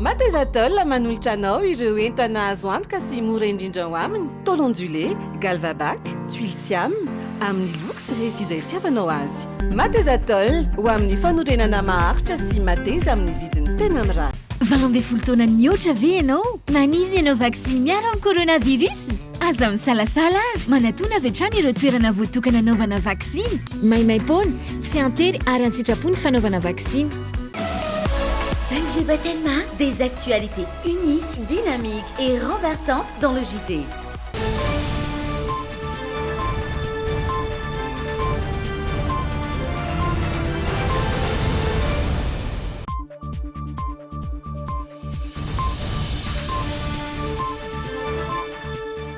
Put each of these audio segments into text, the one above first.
Matezatol manolotra anao ireo entana azo antoka sy mora indrindra ao aminy, tôle ondulée, Galvabac, tuiles siam, amin'ny loko sy refy izay itiavanao azy. Matezatol, ho amin'ny fanorenana maharitra sy mateza amin'ny vidiny tena mirary. Valo ambin'ny folo taona nihoatra ve ianao? Maniry ny hanao vaksiny miaro amin'ny coronavirus? Aza misalasala ary manatona avy hatrany ireo toerana voatokana hanaovana vaksiny. Maimaim-poana, tsy an-tery ary an-tsitrapo ny fanaovana vaksiny. 5GB Telma, des actualités uniques, dynamiques et renversantes dans le JT.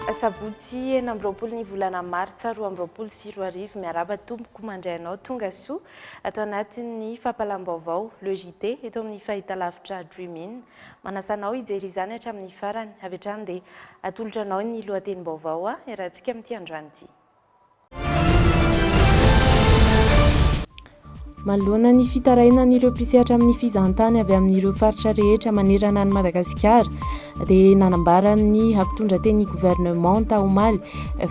Asabotsy enina amby roapolo ny volana martsa roa amby roapolo sy roa arivo Miarahaba tompoko mandray anao tonga soa Ato anatin'ny fampalam-baovao Le JT eto amin'ny fahitalavitra Dream In. Manasa anao hijery izany hatramin'ny farany. Avy hatrany dia atolotra anao ny lohatenim-baovao a! Iarahantsika amin'ity androany ity. Manoloana ny fitarainan'ireo mpisehatra amin'ny fizahantany avy amin'ireo faritra rehetra manerana an'i Madagasikara, dia nanambara ny mpitondra teny ny governemanta omaly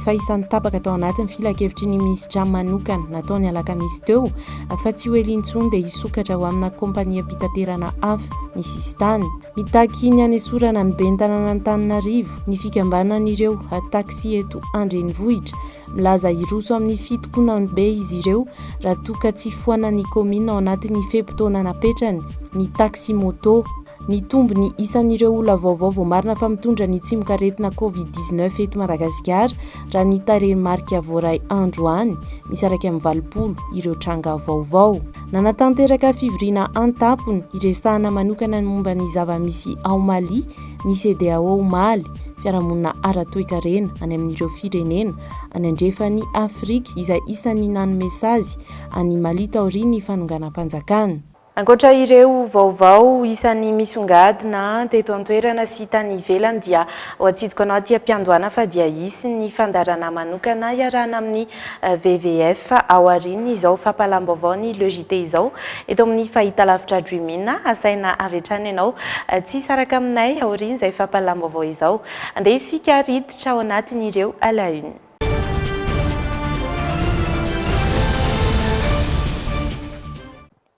fa isan'ny tapaka tao anatin'ny filankevitry ny minisitra manokana nataony alakamisy teo fa tsy ho ela intsony dia hisokatra ho amina kompaniam-pitaterana hafa ny sisintany mitaky ny hanesorana ny ben'ny tananan'Antananarivo ny fikambanan'ireo taxi eto an-drenivohitra. Milaza hiroso amin'ny fitokonany be izy ireo raha toa ka tsy foanan'ny kaominina ao anatin'ny fe-potoana napetrany ny taxi moto. Nitombo ny isan'ireo olona vaovao voamarina fa mitondra ny tsimokaretina Covid dix neuf eto Madagasikara raha ny tarehimarika voaray androany. Misaraka amin'ny valopolo ireo tranga vaovao. Nanatanteraka fivoriana an-tampony hiresahana manokana ny momba ny zava-misy ao Mali ny CEDEAO omaly, fiarahamonina ara-toekarena any amin'ireo firenena any andrefan'i Afrika izay isan'ny nanome sazy an'i Mali taorian'ny fanonganam-panjakana. Ankoatra ireo vaovao isan'ny misongadina teto an-toerana sy tany ivelany dia ho atsidiko anao aty am-piandohana fa dia hisy ny fandaharana manokana iarahana amin'ny WWF ao aorian'izao fampahalam-baovaon'ny Le JT izao eto amin'ny fahitalavitra Dream-in. Asaina avy hatrany ianao tsy hisaraka aminay aorian'izay fampahalam-baovao izao. Andeha isika ary hiditra ao anatin'ireo à la une.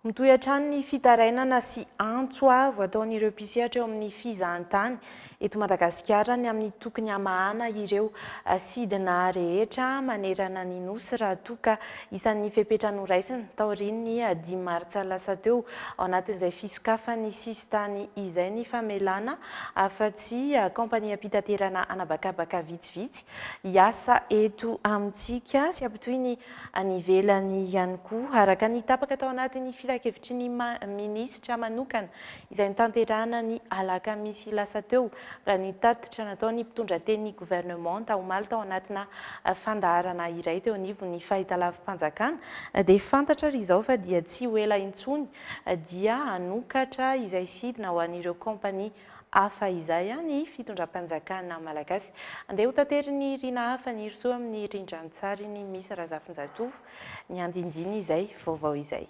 Mitohy hatrany ny fitarainana sy antso avo ataon'ireo mpisehatra eo amin'ny fizahantany eto Madagasikara ny amin'ny tokony hamahana ireo sidina rehetra manerana ny Nosy raha toa ka isan'ny fepetra noraisina taorian'ny dimy martsa lasa teo ao anatin'izay fisokafan'ny sisintany izay ny famelana afa-tsy kaompaniam-pitaterana anabakabaka vitsivitsy hiasa eto amintsika sy hampitohy ny any ivelany ihany koa, araka ny tapaka tao anatin'ny filankevitry ny minisitra manokana izay notanterahana ny alakamisy lasa teo, raha ny tatitra nataon'ny mpitondra tenin'ny governemanta omaly tao anatina fandaharana iray teo anivon'ny fahitalavi-panjakana dia fantatra ary izao fa dia tsy ho ela intsony dia hanokatra izay sidina ho an'ireo kaompania Hafa izay an ny fitondram-panjakana malagasy. Andeha ho taterin'i Rina hafa ny rosoa amin'ny rindran-tsarin'i Miss Razafinjatovo ny andindiny izay vaovao izay.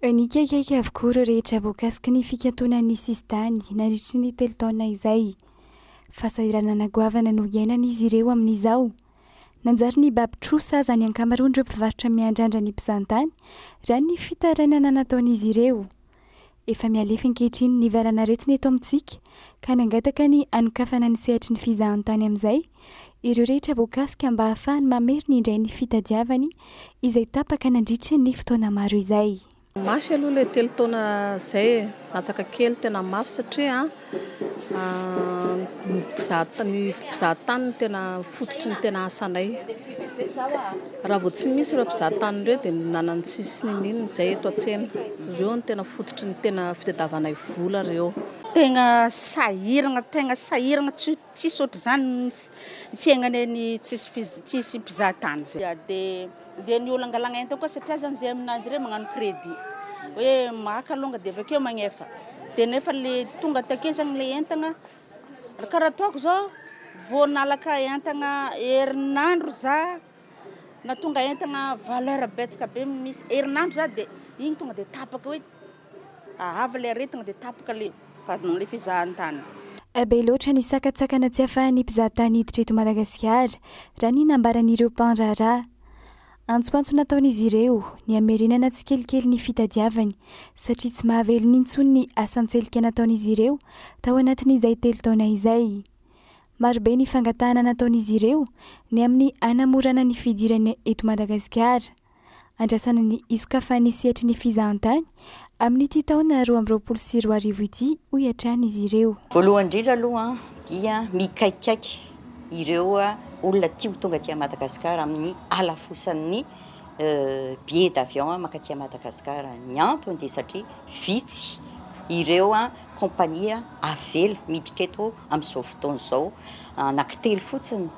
Nikaikaika avokoa ireo rehetra voakasiky ny fikantonan'ny sisintany nandritry ny telo taona izay. Fahasahiranana goavana no iainan'izy ireo amin'izao. Nanjary nibaby trosa aza ny ankamaroan'ireo mpivarotra miandrandra ny mpizahantany raha ny fitarainana nataon'izy ireo. Efa mihalefy ankehitriny ny valan'aretina eto amintsika ka nangataka ny hanokafana ny sehatry ny fizahantany amin'izay ireo rehetra voakasika mba hahafahany mamerina indray ny fitadiavany izay tapaka nandritra ny fotoana maro izay. Mafy aloha ilay telo taona izay e, latsaka kely, tena mafy satria Mpizaha tany no tena fototry ny tena asanay. Raha vao tsy misy ireo mpizaha tany ireo dia ny nanana ny tsisy ny nini ny izay eto an-tsena. Ireo no tena fototry ny tena fitadiavanay vola ireo. Tena sahirana, tena sahirana, tsy tsisy ohatr'izany. Ny fiaignana eny tsisy fiz- tsisy mpizaha tany zay. Ya dia dia ny olangalaigna entana koa satria zany zay aminanjy ireny magnano crédit hoe maka alonga dia avy akeo magnefa dia nefa le tonga take zany le entana ra kara ataoko zao vao nalaka entana herinandro za na tonga entana valeur betsaka be misy herinandro za dia igny tonga dia tapaka hoe Ahava ilay aretina dia tapaka ilay vadinao ilay fizahantany. Eh be loatra ny sakantsakana tsy afahan'ny mpizahatany hiditra eto Madagasikara, raha ny nambaran'ireo mpandraharaha. Antsomantso nataon'izy ireo, ny hamerenana tsikelikely ny fitadiavany, satria tsy mahavelona intsony ny asan-tselika nataon'izy ireo tao anatin'izay telo taona izay. Marobe ny fangatahana nataon'izy ireo, ny amin'ny hanamorana ny fidirany eto Madagasikara. andrasana ny hisokafan'ny sehatry ny fizahantany amin'ity taona roa amby roapolo sy roa arivo ity, hoy hatrany izy ireo. Voalohany indrindra aloha dia mikaikaiky ireo olona tia ho tonga aty Madagascar amin'ny halafosan'ny billet d'avion mankaty Madagascar. Ny antony dia satria vitsy ireo compagnie avela miditra eto amin'izao fotoana izao, anankitelo fotsiny,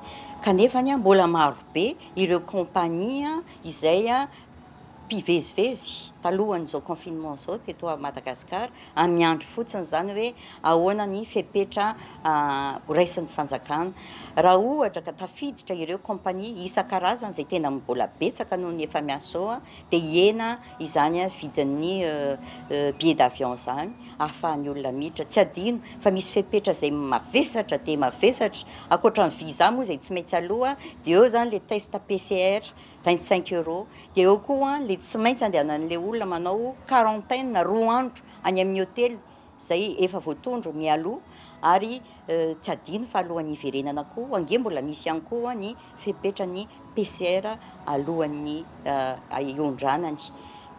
kanefa mbola marobe. ireo compagnie izay mpivezivezy talohan'izao confinement izao teto Madagascar ary miandry fotsiny izany hoe ahoana ny fepetra horaisin'ny fanjakana. Raha ohatra ka tafiditra ireo compagnie isan-karazany izay tena mbola betsaka noho ny efa miasa izao dia hihena izany vidin'ny billet d'avion izany ahafahan'ny olona miditra. Tsy adino fa misy fepetra izay mavesatra dia mavesatra, ankoatra ny visa moa izay tsy maintsy aloha, dia eo izany le test PCR 25 euros, dia eo koa le tsy maintsy andehanan'le olona manao quarantaine roa andro any amin'ny hotely. izay efa voatondro mialoha ary tsy adino fa alohan'ny hiverenana koa ange mbola misy ihany koa ny fepetran'ny PCR alohan'ny hiondranany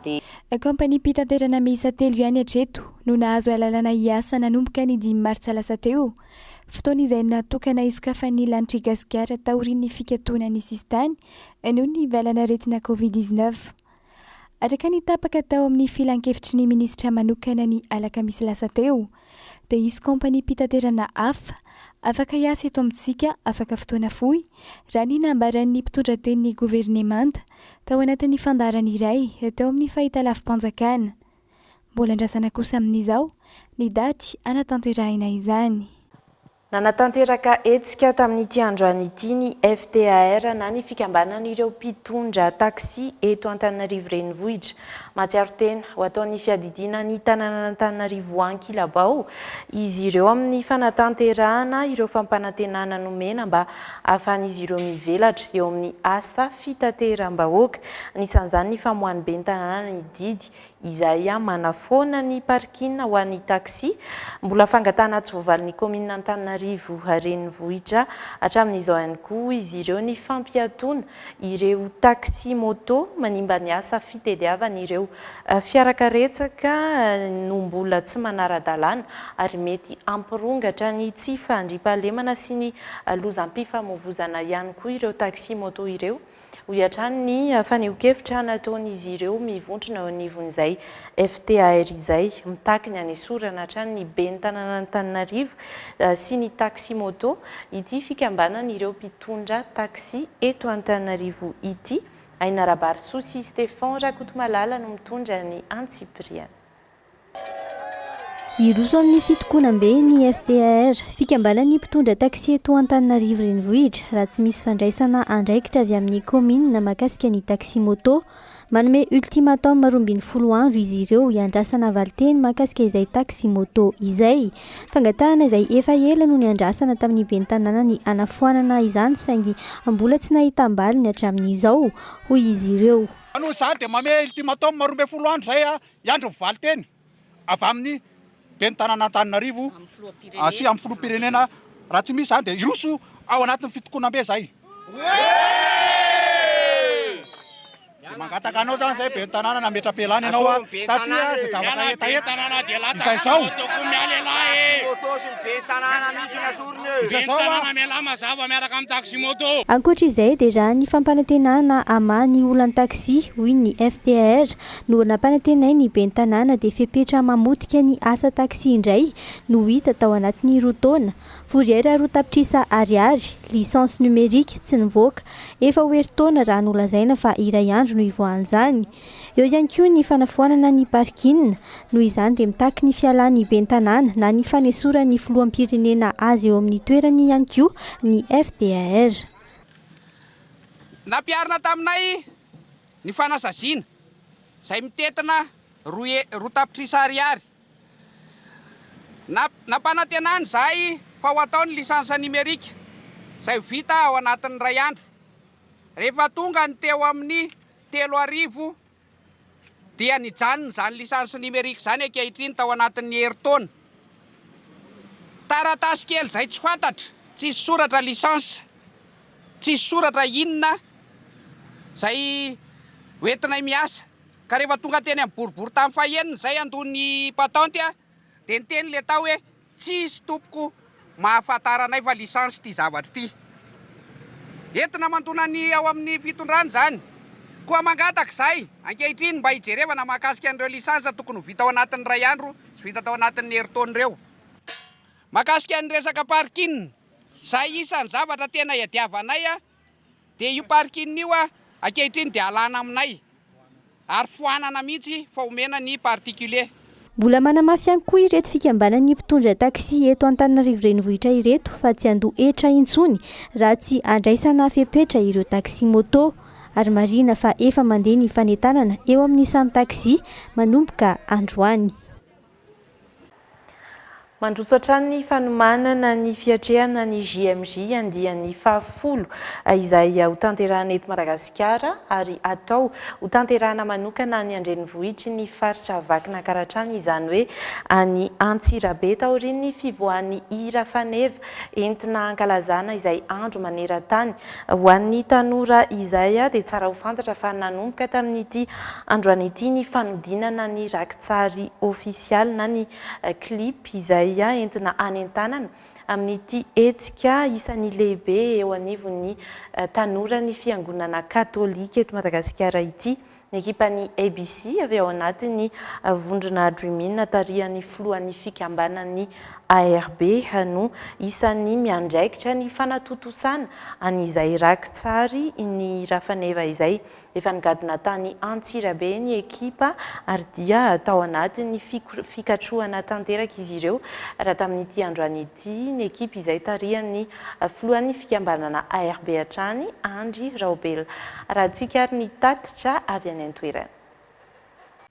dia Kaompaniam-pitanterana miisa telo ihany hatreto no nahazo alalana hiasa nanomboka ny dimy martsa lasa teo, fotoana izay natokana hisokafan'ny lanitr'i Gasikara taorian'ny fikatonan'ny sisintany noho ny valan'aretina Covid dix-neuf. Araka ny tapaka tao amin'ny filankevitry ny minisitra manokana ny alakamisy lasa teo, dia hisy kaompaniam-pitaterana hafa afaka hiasa eto amintsika afaka fotoana fohy, raha ny nambaran'ny mpitondra tenin'ny governemanta tao anatin'ny fandaharana iray teo amin'ny fahitalavi-panjakana. Mbola andrasana kosa amin'izao ny daty hanatanterahina izany. Nanatanteraka hetsika tamin'ity androany ity ny FTAR na ny fikambanan'ireo mpitondra taxi eto Antananarivo Renivohitra. Mahatsiaro tena ho ataon'ny fiadidiana ny tanànan'Antananarivo ankilabao izy ireo amin'ny fanatanterahana ireo fampanantenana nomena mba hahafahan'izy ireo mivelatra eo amin'ny asa fitateram-bahoaka anisan'izany ny famoahan'ny ben'ny tanàna ny didy izay manafoana ny parking ho an'ny taxi, mbola fangatahana tsy voavalin'ny kaominina Antananarivo renivohitra hatramin'izao ihany koa izy ireo ny fampiatoana ireo taxi moto manimba ny asa fitediavan'ireo fiarakaretsaka no mbola tsy manara-dalàna ary mety hampirongatra ny tsy fandriampahalemana sy ny lozam-pifamoivozana ihany koa ireo taxi moto ireo. hoy hatrany ny fanehoan-kevitra nataon'izy ireo mivontrona eo anivon'izay FTAR izay, mitaky ny hanesorana hatrany ny ben'ny tanànan'Antananarivo sy ny taxi-moto ity fikambanan'ireo mpitondra taxi eto Antananarivo ity. Ainarabarisoa sy Stephan Rakotomalala no mitondra ny antsipiriany. Hiroso amin'ny fitokonam-be ny FTAR, fikambanan'ny mpitondra taxi eto Antananarivo Renivohitra, raha tsy misy fandraisana andraikitra avy amin'ny kaominina mahakasika ny taxi-moto. Manome ultimatum roa ambin'ny folo andro izy ireo hiandrasana valinteny mahakasika izay taxi-moto izay. Fangatahana izay efa ela no niandrasana tamin'ny ben'ny tanàna ny hanafoanana izany saingy mbola tsy nahitam-baliny hatramin'izao, hoy izy ireo. Noho izany dia manome ultimatum roa ambin'ny folo andro izay Hiandry ny valin-teny avy amin'ny Ben'ny tanàn'Antananarivo sy amin'ny Filoham-pirenena raha tsy misy izany dia hiroso ao anatin'ny fitokonam-be izay. Dia mangataka anao izany izay Ben'ny tanàna na metra-pialana ianao a, satria izay zavatra hetaheta izay izao. Izay izao a. Ankoatra izay dia raha ny fampanantenana hamaha ny olan'ny taxi, hoy ny FTAR, No nampanantenain'ny ben'ny tanàna dia fepetra mamotika ny asa taxi indray no hita tao anatin'ny roa taona. Fourrière roa tapitrisa Ariary, licence numérique, tsy nivoaka. Efa ho herintaona raha nolazaina fa iray andro no hivoahan'izany. Eo ihany koa ny fanafoanana ny parking. Noho izany dia mitaky ny fialan'ny ben'ny tanàna na ny fanesoran'ny filoham-pirenena azy eo amin'ny toerany ihany koa ny FDAR. Nampiharina taminay Ny fanasaziana, izay mitentina roa he, roa tapitrisa ariary. Na, nampanantenana izahay fa ho atao ny lisansa nimerika, izay ho vita ao anatin'ny iray andro. Rehefa tonga ny teo amin'ny telo arivo dia nijanona izany lisansa nimerika izany ankehitriny tao anatin'ny herintaona. Taratasy kely izay tsy fantatra, tsisy soratra lisansa. Tsisy soratra inona izay hoentinay miasa ka rehefa tonga teny amin'ny boriboritany fahenina izay handoa ny patente dia niteny ilay tao hoe tsisy tompoko mahafantara anay fa licence ity zavatra ity. Entina mandona ny ao amin'ny fitondrana izany. Koa mangataka izahay ankehitriny mba hijerevana mahakasika an'ireo licence tokony ho vita ao anatin'ny iray andro sy vita tao anatin'ny herintaona ireo. Mahakasika ny resaka parking. Izay isan'ny zavatra tena iadiavanay dia io parking io ankehitriny dia alana aminay ary foanana mihitsy fa omena ny particulier. Mbola manamafy ihany koa ireto fikambanan'ny mpitondra taxi eto Antananarivo Renivohitra ireto fa tsy handoa hetra intsony raha tsy handraisana fepetra ireo taxi moto ary marihina fa efa mandeha ny fanentanana eo amin'ny samy taxi manomboka androany. Mandroso hatrany ny fanomanana ny fiatrehana ny JMJ andiany fahafolo izay hotanterahina eto Madagasikara ary hatao hotanterahina manokana any an-drenivohitry ny faritra Vakinankaratra izany hoe any Antsirabe taorian'ny fivoahan'ny hira faneva entina hankalazana izay andro maneran-tany Ho an'ny tanora izay dia tsara ho fantatra fa nanomboka tamin'ity androany ity ny fanodinana ny rakitsary ofisialy na ny clip izay entina hanentanana amin'ity hetsika isan'ny lehibe eo anivon'ny tanora ny fiangonana katolika eto Madagasikara ity Ny ekipan'ny ABC avy ao anatin'ny vondrona Dreamin tarihan'ny filohan'ny fikambanan'ny ARB no isan'ny miandraikitra ny fanatontosana an'izay raki-tsary ny Rafaneva izay. Efa nigadona tany Antsirabe ny ekipa ary dia tao anatin'ny fikatrohana tanteraka izy ireo raha tamin'ity androany ity. Dia ny ekipa izay tarihan'ny filohan'ny fikambanana ARB hatrany, Andry Raobela. Raha tsikary ny tatitra avy any an-toerana.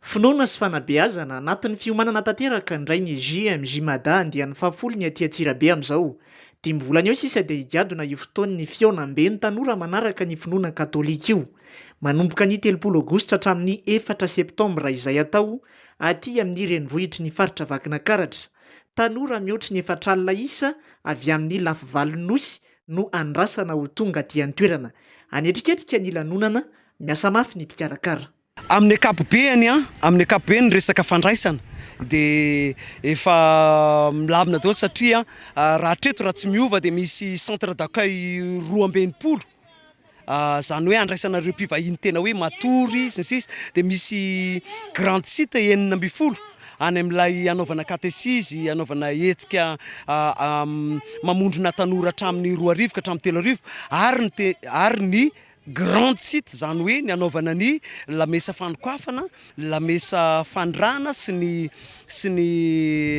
Finoana sy fanabeazana, anatin'ny fiomanana tanteraka indray ny JMJ Mada andiany fahafolo ny aty Antsirabe amin'izao. Dimy volana eo sisa dia higadona io fotoan'ny fihaonambe ny tanora manaraka ny finoana katolika io. Manomboka ny telopolo aogositra hatramin'ny efatra septambra izay atao aty amin'ny renivohitry ny faritra Vakinakaratra. Tanora mihoatry ny efatr'alina isa avy amin'ny lafivalon'ny Nosy no andrasana ho tonga aty an-toerana. Hanetriketrika ny lanonana, miasa mafy ny mpikarakara. Amin'ny ankapobeny, amin'ny ankapobeny ny resaka fandraisana dia efa milamina daholo satria raha hatreto raha tsy miova dia misy centre d'accueil roa amby enimpolo Ah, zany hoe andraisana ireo mpivahiny tena hoe matory sy ny sisa dia misy grand site enina ambin'ny folo any amin'ilay hanaovana katesizy, hanaovana hetsika ah, ah, mamondrona tanora hatramin'ny roa arivo ka hatramin'ny telo arivo ary ny te- ary ny grand site izany hoe ny hanaovana ny lamesa fanokafana ny lamesa fanirahana sy ny sy ny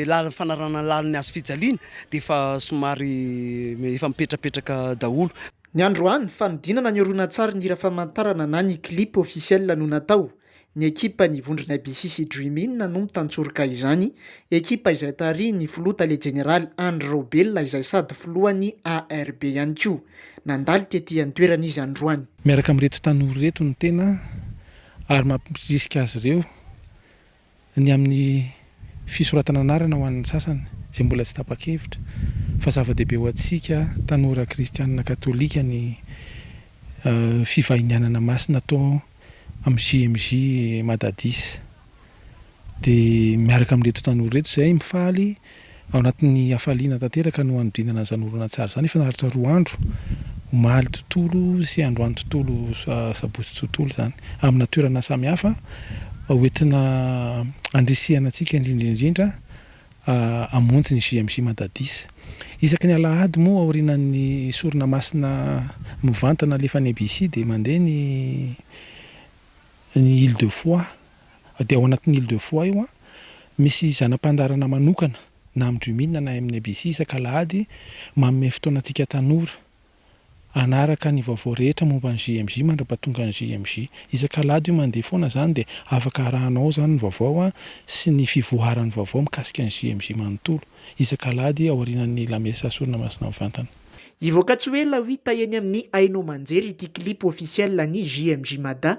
lalana fanarahana ny lalin'ny hazo fijaliana dia efa somary efa mipetrapetraka daholo. Ny androany, fanodinana ny horonantsarin'ny hira famantarana na ny clip officiel no natao. Ny ekipan'ny vondronay Bisi sy Dream In no mitantsoroka izany, ekipa izay tarihin'ny filoha tale jeneraly Andry Raobelina izay sady filohan'ny ARB ihany koa. Nandalika ety an-toerana izy androany. Miaraka amin'ireto tanora ireto ny tena. ary mampirisika azy ireo ny amin'ny fisoratana anarana ho an'ny sasany izay mbola tsy tapa-kevitra fa zava-dehibe ho antsika tanora kristianina katolika ny fivahinianana masina atao amin'ny JMJ Madadis. Dia miaraka amin'ireto tanora ireto izahay mifaly ao anatin'ny hafaliana tanteraka no hanodinana izany horonantsary izany efa naharitra roa andro, omaly tontolo sy androany tontolo, sabotsy tontolo izany, amina toerana samihafa ho entina handrisihana antsika indrindra indrindra hamonjy ny JMJ Madadis. Isaky ny alahady moa aorianan'ny sorona masina mivantana alefan'ny ABC dia mandeha ny ny Île de Foix Dia ao anatin'ny Île de Foix io an, misy zana-pandaharana manokana na amin'ny Jumin na amin'ny ABC isak'alahady manome fotoana antsika tanora hanaraka ny vaovao rehetra momba ny JMJ mandrapatongan'ny JMJ. Isak'alahady io mandeha foana izany dia afaka arahanao ao izany ny vaovao sy ny fivoaharan'ny vaovao mikasika ny JMJ manontolo isak'alahady ao aorianan'ny lamesa sorona masina mivantana. Hivoaka tsy ho ela ho hita eny amin'ny haino aman-jery ity clip officiel ny JMJ Mada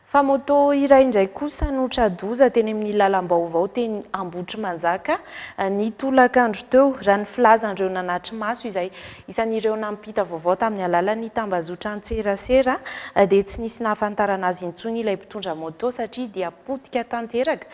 Fa moto iray indray kosa no tra-doza teny amin'ny lalam-baovao teny Ambohitrimanjaka, ny tolakandro teo, raha ny filazan'ireo nanatri-maso izay. Isan'ireo nampita vaovao tamin'ny alalan'ny tambazotran-tserasera dia tsy nisy nahafantarana azy intsony ilay mpitondra moto satria dia potika tanteraka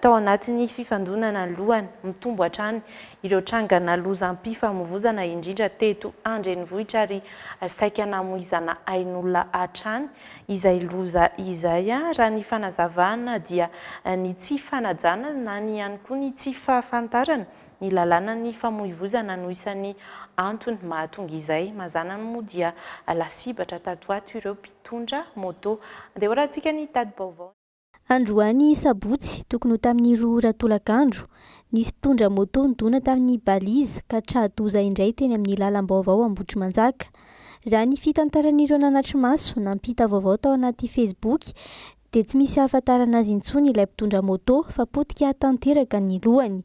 tao anatin'ny fifandonana ny lohany. Mitombo hatrany ireo trangana lozam-pifamovoizana indrindra teto an-drenivohitra ary saika namoizana ain'olona hatrany Izay loza izay a! Raha ny fanazavana dia ny tsy fanajana na ny ihany koa ny tsy fahafantarana ny lalànan'ny famoivozana no isan'ny antony mahatonga izay. Mazàna moa dia lasibatra tato ho ato ireo mpitondra moto. Andeha hoarahantsika ny tadi-baovaon'ny. Androany sabotsy, tokony ho tamin'ny roa ora tolakandro, nisy mpitondra moto nidona tamin'ny balise ka tra-doza indray teny amin'ny lalam-baovao Ambohitrimanjaka. Raha ny fitantaran'ireo nanatri-maso nampita vaovao tao anaty Facebook dia tsy misy ahafantarana azy intsony ilay mpitondra moto fa potika tanteraka ny lohany.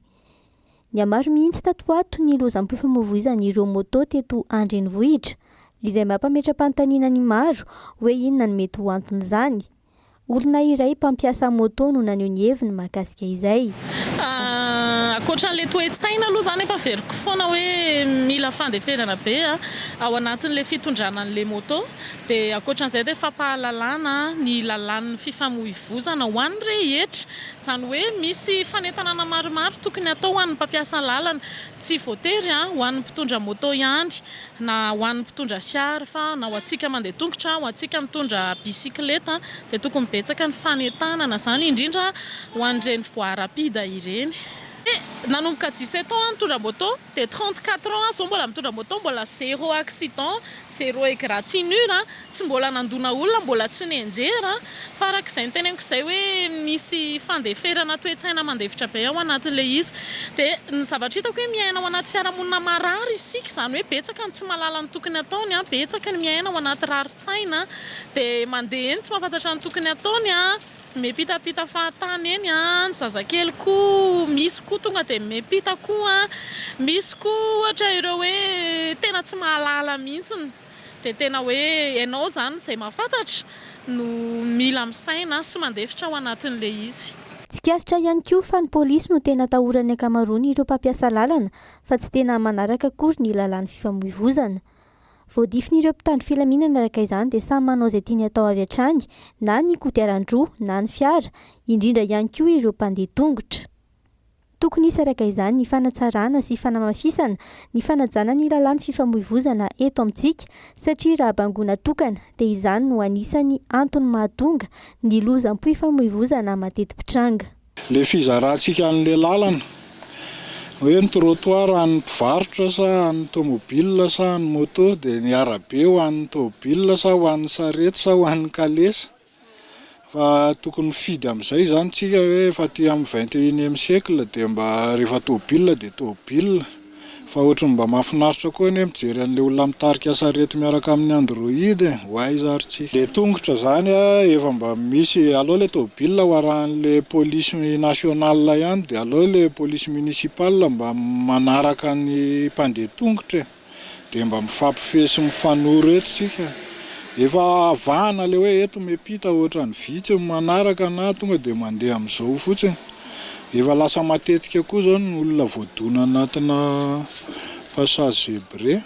Nihamaro mihitsy tato ho ato ny lozam-pifamoivoizan'ireo moto teto an-drenivohitra, izay mampametra-panontaniana ny maro hoe inona no mety ho anton'izany. Olona iray mpampiasa moto no naneho ny heviny mahakasika izay. Ankoatran'ilay toe-tsaina aloha za nefa averiko foana hoe mila fandeferana be ao anatin'ilay fitondrana an'ilay moto. Dia ankoatran'izay dia fampahalalana ny lalàn'ny fifamoivozana ho an'ny rehetra. Izany hoe misy fanentanana maromaro tokony hatao ho an'ny mpampiasa lalana. Tsy voatery ho an'ny mpitondra moto ihany na ho an'ny mpitondra fiara fa na ho antsika mandeha tongotra, ho antsika mitondra bisikileta dia tokony betsaka ny fanentanana izany indrindra ho an'ireny voie rapide ireny. Nanomboka dix sept ans aho nitondra moto dia trente quatre ans aho izao mbola mitondra moto mbola zero accident, zero egratignure Tsy mbola nandona olona, mbola tsy nianjera, fa araka izay noteneniko izay hoe misy fandeferana toe-tsaina mandefitra be ao anatin'ilay izy. Dia ny zavatra hitako hoe miaina ao anaty fiarahamonina marary isika, izany hoe betsaka ny tsy mahalala ny tokony hataony, betsaka ny miaina ao anaty rarin-tsaina, dia mandeha eny tsy mahafantatra ny tokony hataony, miampitampita fahatany eny, ny zazakely koa misy koa tonga dia miampita koa, misy koa ohatra ireo hoe tena tsy mahalala mihitsy. Dia tena hoe ianao izany izay mahafantatra no mila misaina sy mandefitra ao anatin'ilay izy. Tsikaritra ihany koa fa ny polisy no tena atahoran'ny ankamaroan'ireo mpampiasa lalana fa tsy tena manaraka akory ny lalàn'ny fifamoivozana. Voadifin'ireo mpitandro filaminana araka izany dia samy manao izay tiany atao avy hatrany na ny kodiaran-droa na ny fiara, indrindra ihany koa ireo mpandeha tongotra. Tokony hisy araka izany ny fanatsarana sy fanamafisana ny fanajana ny lalàn'ny fifamoivozana eto amintsika satria raha bangoina tokana dia izany no anisan'ny antony mahatonga ny lozam-pifamoivozana mateti-pitranga. Ilay fizarantsika an'ilay lalana hoe ny trottoir an'ny mpivarotra sa an'ny tomobilina sa an'ny moto dia ny arabe ho an'ny tomobilina sa ho an'ny sarety sa ho an'ny kalesa. fa tokony mifidy amizay zany tsika hoe efa aty am vingt et unième siècle de mba rehefa tôbila de tôbila fa otriny mba mafinaritra koa anie mijery anle olona mitarika sarety miaraka aminy android e ho aiza ary tsy le tongotra zany a efa mba misy aleo le tôbila ho arahanle polisy national ihany de aleo le polisy municipal mba manaraka ny mpandeha tongotra e. Dia mba mifampifehy sy mifanoro eto tsika. Efa avahana ilay hoe eto miampita ohatran'ny vitsy ny manaraka na tonga dia mandeha amin'izao fotsiny. Efa lasa matetika koa izao ny olona voadona anatina passage zebré.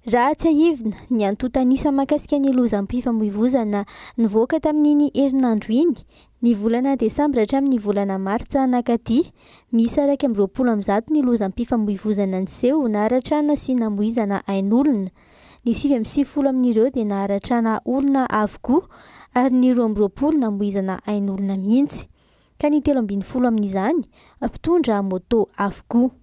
Raha tsiahivina, ny antontan'isa mahakasika ny lozam-pifamoivozana nivoaka tamin'iny herinandro iny Ny volana desambra hatramin' ny volana martsa nankaty, miisa iraika amby roapolo amby zato ny lozam-pifamoivozana niseho naharatrana sy namoizana ain' olona. Ny sivy amby sivifolo amin' ireo dia naharatrana olona avokoa ary ny roa amby roapolo namoizana ain' olona mihitsy, ka ny telo ambin'ny folo amin' izany mpitondra môtô avokoa.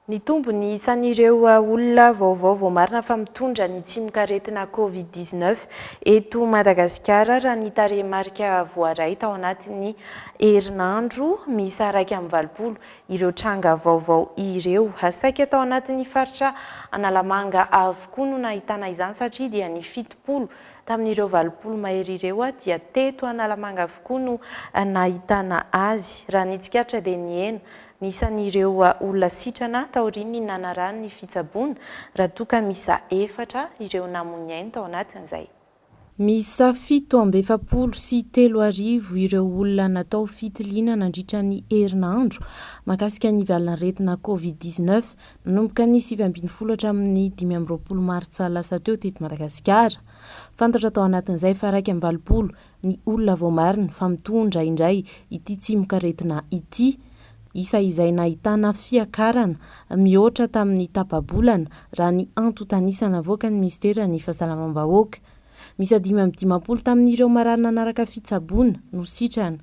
Nitombo ny isan'ireo olona vaovao voamarina fa mitondra ny tsimokaretina Covid dix neuf eto Madagasikara raha ny tarehimarika voaray tao anatin'ny herinandro miisa iraika amby valopolo ireo tranga vaovao ireo. Saika tao anatin'ny faritra Analamanga avokoa no nahitana izany satria dia ny fitopolo tamin'ireo valopolo mahery ireo dia teto Analamanga avokoa no nahitana azy. Raha ny tsikaritra dia nihena Ny isan'ireo olona sitrana taorian'ny nanarahany ny fitsaboana, raha toa ka miisa efatra ireo namoy ny ainy tao anatin'izay. Miisa fito amby efapolo sy telo arivo ireo olona natao fitiliana nandritra ny herinandro mahakasika ny valan'aretina Covid dix neuf, nanomboka ny sivy ambin'ny folo hatramin'ny dimy amby roapolo martsa lasa teo teto Madagasikara. Fantatra tao anatin'izay fa iraika amby valopolo ny olona voamarina fa mitondra indray ity tsimokaretina ity, isa izay nahitana fiakarana mihoatra tamin'ny tapa-bolana, raha ny antontan'isa navoakan'ny minisiteran'ny Fahasalamam-bahoaka. Miisa dimy amby dimampolo tamin'ireo marary nanaraka fitsaboana no sitrana.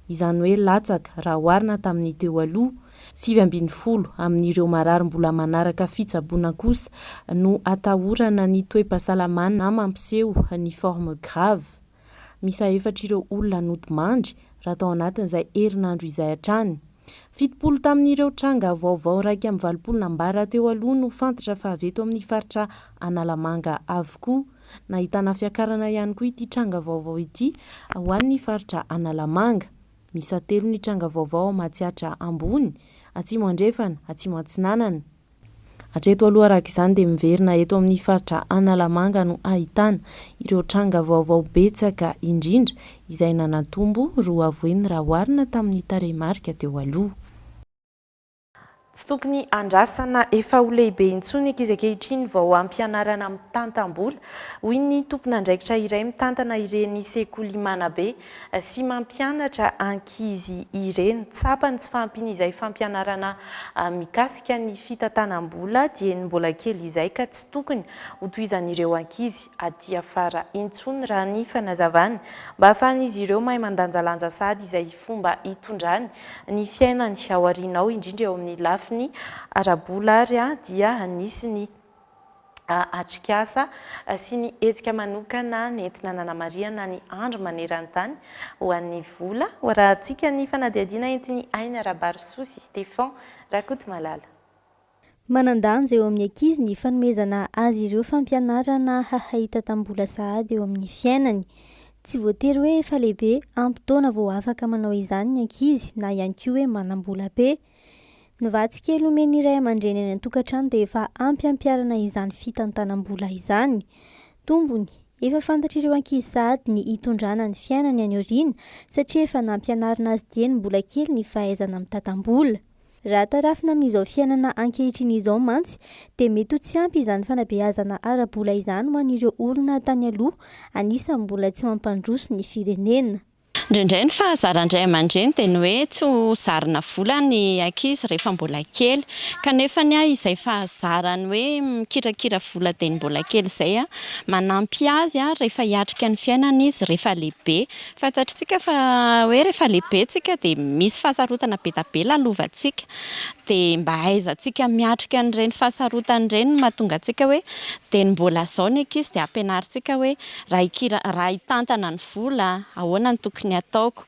izany hoe latsaka raha oharina tamin'ny teo aloha, sivy ambin'ny folo amin'ireo marary mbola manaraka fitsaboana kosa no atahorana ny toe-pahasalamana mampiseho ny forme grave. Miisa efatra ireo olona nodimandry raha tao anatin'izay herinandro izay hatrany. Fitopolo tamin'ireo tranga vaovao iraika amby valopolo nambara teo aloha no fantatra fa avy eto amin'ny faritra Analamanga avokoa. Nahitana fiakarana ihany koa ity tranga vaovao ity ho an'ny faritra Analamanga. Miisa telo ny tranga vaovao ao Matsiatra Ambony, Atsimo Andrefana, Atsimo Atsinanana. Hatreto aloha araka izany dia miverina eto amin'ny faritra Analamanga no ahitana ireo tranga vaovao betsaka indrindra izay nanatombo roa voiny raha oharina tamin'ny tarehimarika teo aloha. Tsy tokony andrasana efa ho lehibe intsony ny ankizy ankehitriny vao ampianarana mitantam-bola, hoy ny tompon'andraikitra iray mitantana ireny sekoly Manabe sy mampianatra ankizy ireny. Tsapany tsy fahampiany izay fampianarana mikasika ny fitantanam-bola dieny mbola kely izay ka tsy tokony hotohizan'ireo ankizy aty afara intsony raha ny fanazavany mba ahafahan'izy ireo mahay mandanjalanja sahady izay fomba hitondrany ny fiainany aoriana ao indrindra eo amin'ny lafiny ara-bola ary dia nisy ny atrikasa sy ny hetsika manokana nentina nanamarihana ny Andro maneran-tany ho an'ny vola hoarahantsika ny fanadihadiana entin'i Aina Rabarosoa sy Stephan Rakotomalala. Manan-danja eo amin'ny ankizy ny fanomezana azy ireo fampianarana hahay tatam-bola sahady eo amin'ny fiainany. Tsy voatery hoe efa lehibe ampy taona vao afaka manao izany ny ankizy na ihany koa hoe manam-bola be. Ny vatsy kely omen'ny iray aman-dreny any an-tokantrano dia efa ampy hampiharana izany fitantanam-bola izany. Tombony, efa fantatr'ireo ankizy sahady ny hitondrana ny fiainany any aoriana satria efa nampianarina azy dieny mbola kely ny fahaizana mitatam-bola. Raha tarafina amin'izao fiainana ankehitriny izao mantsy dia mety ho tsy ampy izany fanabeazana ara-bola izany ho an'ireo olona tany aloha anisan'ny mbola tsy mampandroso ny firenena. Indraindray ny fahazaran-dray aman-dreny dia ny hoe tsy ho zarina vola ny ankizy rehefa mbola kely. Kanefa ny ahy izay fahazarany hoe mikirakira vola dia ny mbola kely izay manampy azy rehefa hiatrika ny fiainana izy rehefa lehibe. Fantatritsika fa hoe rehefa lehibe tsika dia misy fahasarotana be dia be lalovantsika. Dia mba hahaizantsika miatrika an'ireny fahasarotana ireny no mahatonga antsika hoe dia ny mbola zao ny ankizy dia ampianarintsika hoe. Raha hikira, raha hitantana ny vola, ahoana no tokony hataoko?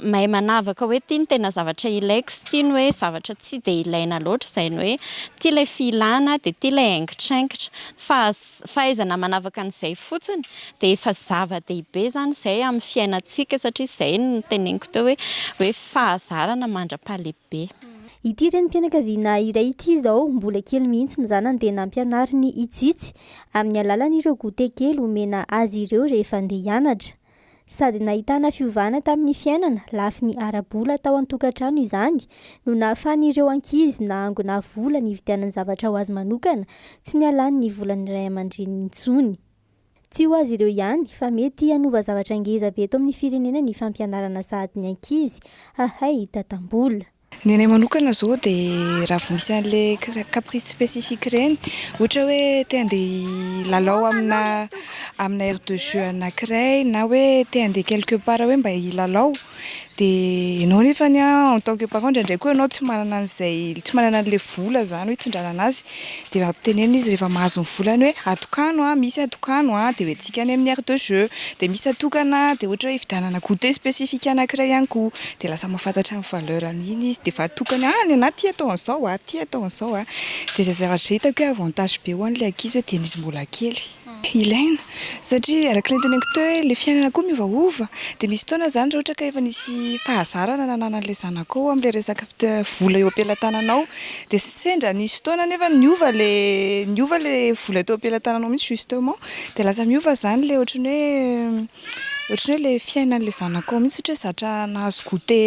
Mahay manavaka hoe ity no tena zavatra ilaiko sy ity no hoe zavatra tsy dia ilaina loatra, izay ny hoe ity ilay filana dia ity ilay haingitraingitra. Ny fahaizana manavaka an'izay fotsiny dia efa zava-dehibe izany izay amin'ny fiainantsika, satria izay no noteneniko teo hoe, hoe fahazarana mandra-pahalehibe. Ity renim-pianakaviana iray ity izao, mbola kely mihitsy ny zanany dia nampianariny hitsitsy amin'ny alalan'ireo goûter kely omena azy ireo rehefa andeha hianatra. Sady nahitana fiovana tamin'ny fiainana lafiny ara-bola tao an-tokantrano izany no nahafahan'ireo ankizy nahangona vola nividianany zavatra ho azy manokana tsy nialan'ny volan'ny ray aman-dreniny intsony. Tsy ho azy ireo ihany fa mety hanova zavatra ngeza be eto amin'ny firenena ny fampianarana sahady ny ankizy hahay hitantam-bola. Ny anay manokana izao dia raha vao misy an'ilay caprice spécifique ireny, ohatra hoe te handeha hilalao amina amina aire de jeux anankiray na hoe te handeha quelque part hoe mba hilalao dia ianao nefany an en tant que parent indraindray koa ianao tsy manana an'izay, tsy manana an'ilay vola izany hoe hitondrana an'azy Dia ampitenenina izy rehefa mahazo ny volany hoe atokano a, misy atokano a, dia hoe antsika any amin'ny aire de jeu, dia misy atokana dia ohatra hoe hividianana goûter spécifique anankiray ihany koa, dia lasa mahafantatra ny valeur an'iny izy, dia efa atokany hoe any anah ity atao an'izao a, ity atao an'izao a, dia izay zavatra hitako hoe avantage be ho an'ilay ankizy hoe dia izy mbola kely. Ilaina, satria araka ny noteneniko teo hoe ilay fiainana koa miovaova, dia misy fotoana izany raha ohatra ka efa nisy fahazarana nananan'ilay zanakao amin'ilay resaka vola eo am-pelatananao, dia sendra nisy fotoana anefa niova ilay, niova ilay vola teo am-pelatananao mihitsy justement, dia lasa miova izany ilay ohatran'ny hoe, Ohatran'ny hoe ilay fiainan'ilay zanako ao mihitsy ohatra hoe zatra nahazo goûté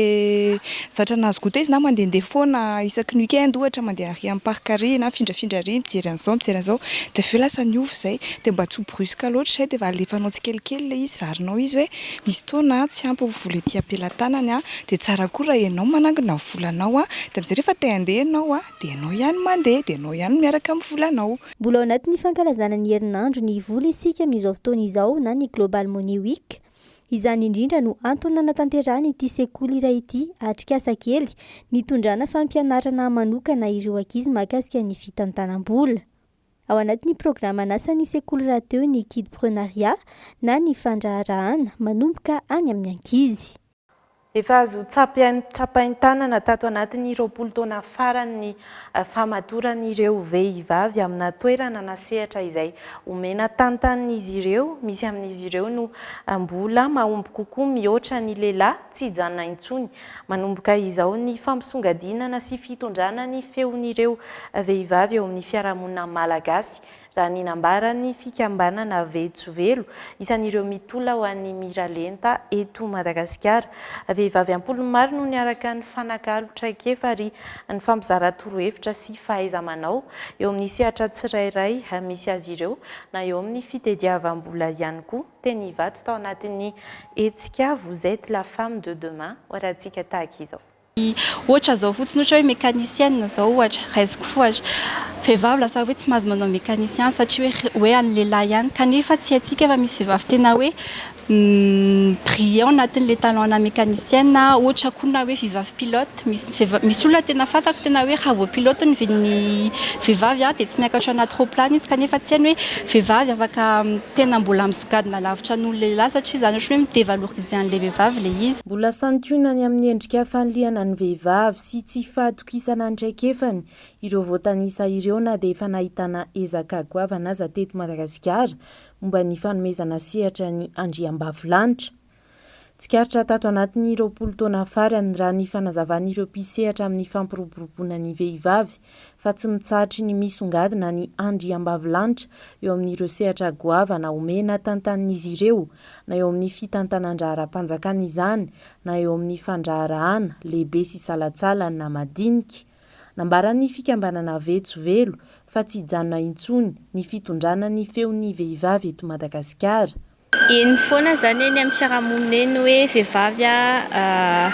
zatra nahazo goûté izy na mandehandeha foana isaky ny week-end ohatra mandeha ary amin'ny parc ary na mifindrafindra ary mijery an'izao mijery an'izao dia avy eo lasa niova izay dia mba tsy ho brusque loatra izay dia efa alefanao tsikelikely ilay izy zarinao izy hoe misy fotoana tsy ampy ny vola ety am-pelatanany dia tsara koa raha ianao manangona ny volanao dia amin'izay rehefa te handeha ianao Dia ianao ihany no mandeha, dia ianao ihany no miaraka amin'ny volanao. Mbola ao anatin'ny fankalazana ny herinandro ny vola isika amin'izao fotoana izao na ny Global Money Week. Izany indrindra no antony nanatanterahan'ity sekoly iray ity atrikasa kely nitondrana fampianarana manokana ireo ankizy mahakasika ny fitantanam-bola. Ao anatin'ny programan'asan'ny sekoly rahateo ny Kidprenariat na ny fandraharahana manomboka any amin'ny ankizy. Efa azo tsapain-tanana tato anatin'ny roapolo taona farany ny famatoran'ireo vehivavy amina toerana na sehatra izay omena tantanin'izy ireo, misy amin'izy ireo no mbola mahomby kokoa mihoatra ny lehilahy, tsy hijanona intsony. Manomboka izao ny fampisongadinana sy fitondrana ny feon'ireo vehivavy eo amin'ny fiarahamonina malagasy, raha ny nambaran'ny fikambanana Vetsovelo, isan'ireo mitolona ho an'ny miralenta eto Madagasikara. Vehivavy am-polony maro no niaraka nifanakalo traikefa ary nifampizara torohevitra sy fahaiza-manao eo amin'ny sehatra tsirairay misy azy ireo na eo amin'ny fitediavam-bola ihany koa. Teny Ivato tao anatin'ny hetsika Vous êtes la femme de demain, Horahantsika tahaka izao. Ohatra izao fotsiny ohatra hoe mécanicienne izao ohatra, raisiko fo ary vehivavy lasa hoe tsy mahazo manao mécanicien satria hoe hoe an'ny lehilahy ihany kanefa tsy haintsika fa misy vehivavy tena hoe brillant anatin'ilay talent-na mécanicienne ohatra koa na hoe vehivavy pilote, misy vehivavy misy olona tena fantako tena hoe raha vao pilote ny vin'ny vehivavy aho dia tsy miakatra anaty roaplany izy kanefa tsy hainy hoe vehivavy afaka tena mbola misongadina lavitra noho ny lehilahy satria izany ohatra hoe mi-dévaloriser an'ilay vehivavy ilay izy. Mbola santionany amin'ny endrika fanilihana ny vehivavy sy tsy fahatokisana ny traikefany ireo voatanisa ireo na dia efa nahitana ezaka goavana aza teto Madagasikara momba ny fanomezana sehatra ny andriambavilanitra. Tsikaritra tato anatin'ny roapolo taona farany, raha ny fanazavan'ireo mpisehatra amin'ny fampiroboroboana ny vehivavy, fa tsy mitsahatra ny misongadina ny andriambavilanitra eo amin'ireo sehatra goavana omena tantanin'izy ireo, na eo amin'ny fitantanan-draharaham-panjakana izany, na eo amin'ny fandraharahana lehibe sy salantsala na madinika. Nambaran'ny fikambanana Vetso Velo fa tsy hijanona intsony ny fitondrana ny feon'ny vehivavy eto Madagasikara. Eny foana zany eny amin'ny fiarahamonina eny hoe vehivavy a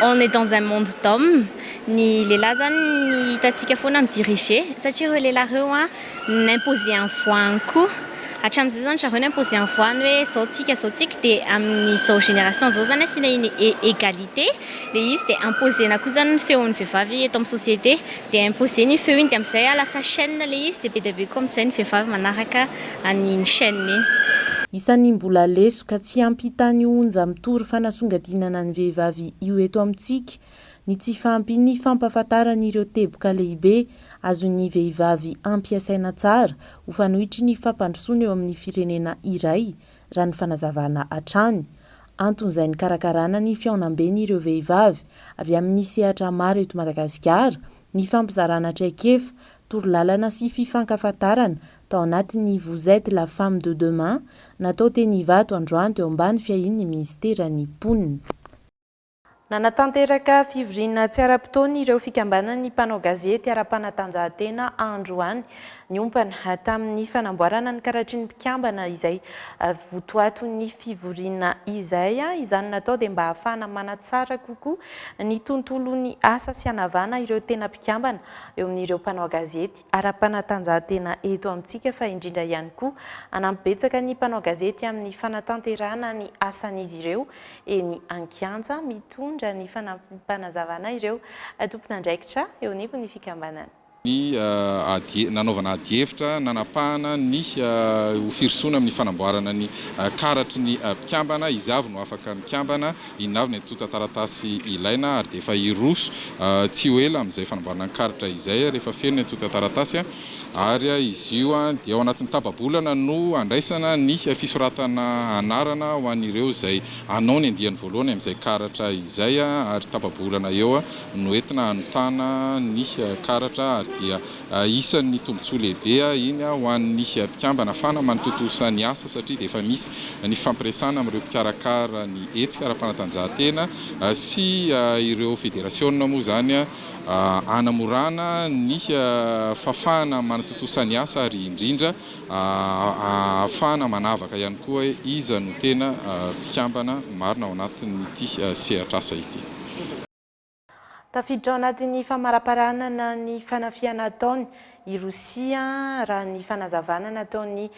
on est dans un monde d'homme ny lehilahy zany ny hitantsika foana mi diriger satria ireo lehilahy ireo a n'imposer en voix any koa hatramin'izay zany zareo n'imposer en voix any hoe zao tsika zao tsika de amin'izao génération zao zany asiana iny égalité le izy de imposer-na koa zany ny feon'ny vehivavy eto amin'ny société de imposer-na iny feo iny de amin'izay a lasa chaine le izy de be dia be koa amin'izay ny vehivavy manaraka an'iny chaîne iny. Isan'ny mbola lesoka tsy ampy hitan'ny onja mitory fanasongadinana ny vehivavy io eto amintsika ny tsy fahampian'ny fampahafantaran'ireo teboka lehibe azon'ny vehivavy ampiasaina tsara ho fanoitry ny fampandrosoana eo amin'ny firenena iray raha ny fanazavana hatrany anton'izay nikarakarana ny fihaonambeny ireo vehivavy avy amin'ny sehatra maro eto Madagasikara nifampizarana traikefa, torolalana sy fifankafantarana Tao anatin'ny Vous êtes la femme de demain, natao teny Ivato androany teo ambany fiahian'ny minisiteran'ny Mponina. Nanatanteraka fivoriana tsy ara-potoana ireo fikambanan'ny mpanao gazety ara-panatanjahantena androany, niompana tamin'ny fanamboarana ny karatry ny mpikambana izay votoaton'ny fivoriana izay. Izany natao dia mba hahafahana manatsara kokoa ny tontolon'ny asa sy hanavana ireo tena mpikambana eo amin'ireo mpanao gazety. ara-panatanjahantena eto amintsika fa indrindra ihany koa hanampy betsaka ny mpanao gazety amin'ny fanatanterahana ny asan'izy ireo eny an-kianja, mitondra ny fanampim-panazavana ireo tompon'andraikitra eo anivon'ny fikambanana. ny ady nanaovana ady hevitra nanapahana ny ho firosoana amin'ny fanamboarana ny karatry ny mpikambana, iza avy no afaka mikambana, Inona avy ny antontan-taratasy ilaina ary dia efa hiroso tsy ho ela amin'izay fanamboarana ny karatra izay rehefa feno ny antontan-taratasy ary izy io dia ao anatin'ny tapa-bolana no handraisana ny fisoratana anarana ho an'ireo izay hanao ny andiany voalohany amin'izay karatra izay ary tapa-bolana eo no entina hanontana ny karatra ary dia Isan'ny tombontsoa lehibe iny ho an'ny mpikambana fa na manatontosa ny asa satria dia efa misy ny fifampiresahana amin'ireo mpikarakara ny hetsika ara-panatanjahantena sy ireo federasiona moa izany hanamorana ny fahafahana manatontosa ny asa ary indrindra hahafahana manavaka ihany koa hoe iza no tena mpikambana marina ao anatin'ity sehatr'asa ity. Tafiditra ao anatin'ny famaraparanana ny fanafihana ataony i Rosia, raha ny fanazavana nataon'ny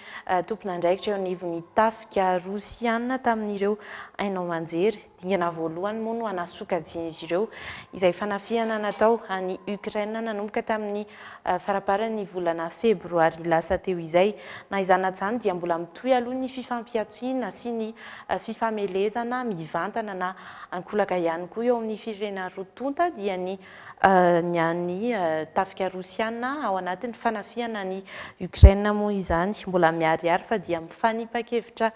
tompon'andraikitra eo anivon'ny tafika Rosiana tamin'ireo haino aman-jery. Dingana voalohany moa no hanasokajian'izy ireo izay fanafihana natao an'i Ukraine nanomboka tamin'ny faraparan'ny volana febroary lasa teo izay. Na izany na izany dia mbola mitohy aloha ny fifampihantsiana sy ny fifamelezana mivantana na Ankolaka ihany koa eo amin'ny firenena roa tonta dia ny ny an'ny tafika rosiana ao anatin'ny fanafihana an'i Ukraine moa izany. Mbola miharihary fa dia mifanipa-kevitra